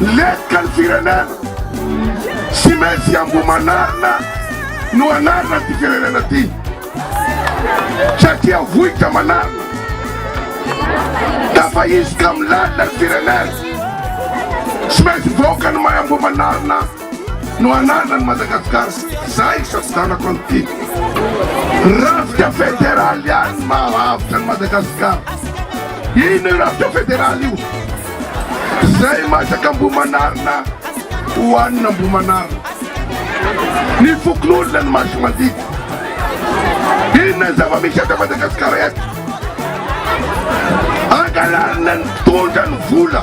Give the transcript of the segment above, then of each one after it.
Letika ny firenena. Tsy maintsy Ambohimanarina no anarana ity firenena ity satria vohitra manarina. Tafahizika amin'ny lalina ny firenena. Tsy maintsy vahoaka ny mahay Ambohimanarina. no anana ny Madagascar zay sampidanako an'ity rafitra federal ihany mahavitra ny Madagascar ino io rafitra federal io zay masaka ambomanarina hohanina ambomanarina ny fokonolona ny masy mandidy inona ny zava-misy eto Madagascar eto angalarina ny tondra ny vola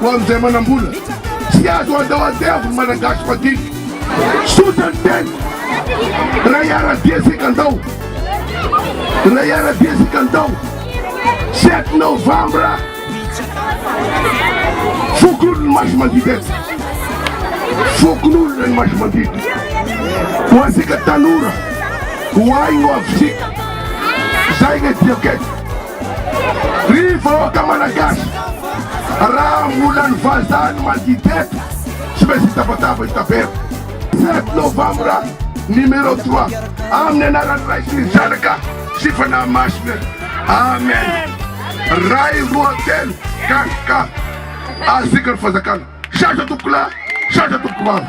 Ho amin'izay manam-bola, tsy azo handao andevo ny Malagasy madinika. Tsotra ny teny, raha hiara-dia isika ndao, raha hiara-dia isika ndao, sept novembre, fokonolona ny maso mandidy eto, fokonolona ny maso mandidy, ho antsika tanora, ho ahy no avontsika, zay no diako eto. Ry vahoaka Malagasy, raha mbola ny vazaha no mandidy eto, tsy maintsy hitabataba, hitaberaka. Sept novembre numéro trois, amin'ny anaran'ny Ray sy ny Zanaka sy Fanahy Masina, Amen. Ray roa telo KK, Azika ny Fanjakana. Sarotra tompoko lahy, sarotra tompoko vavy.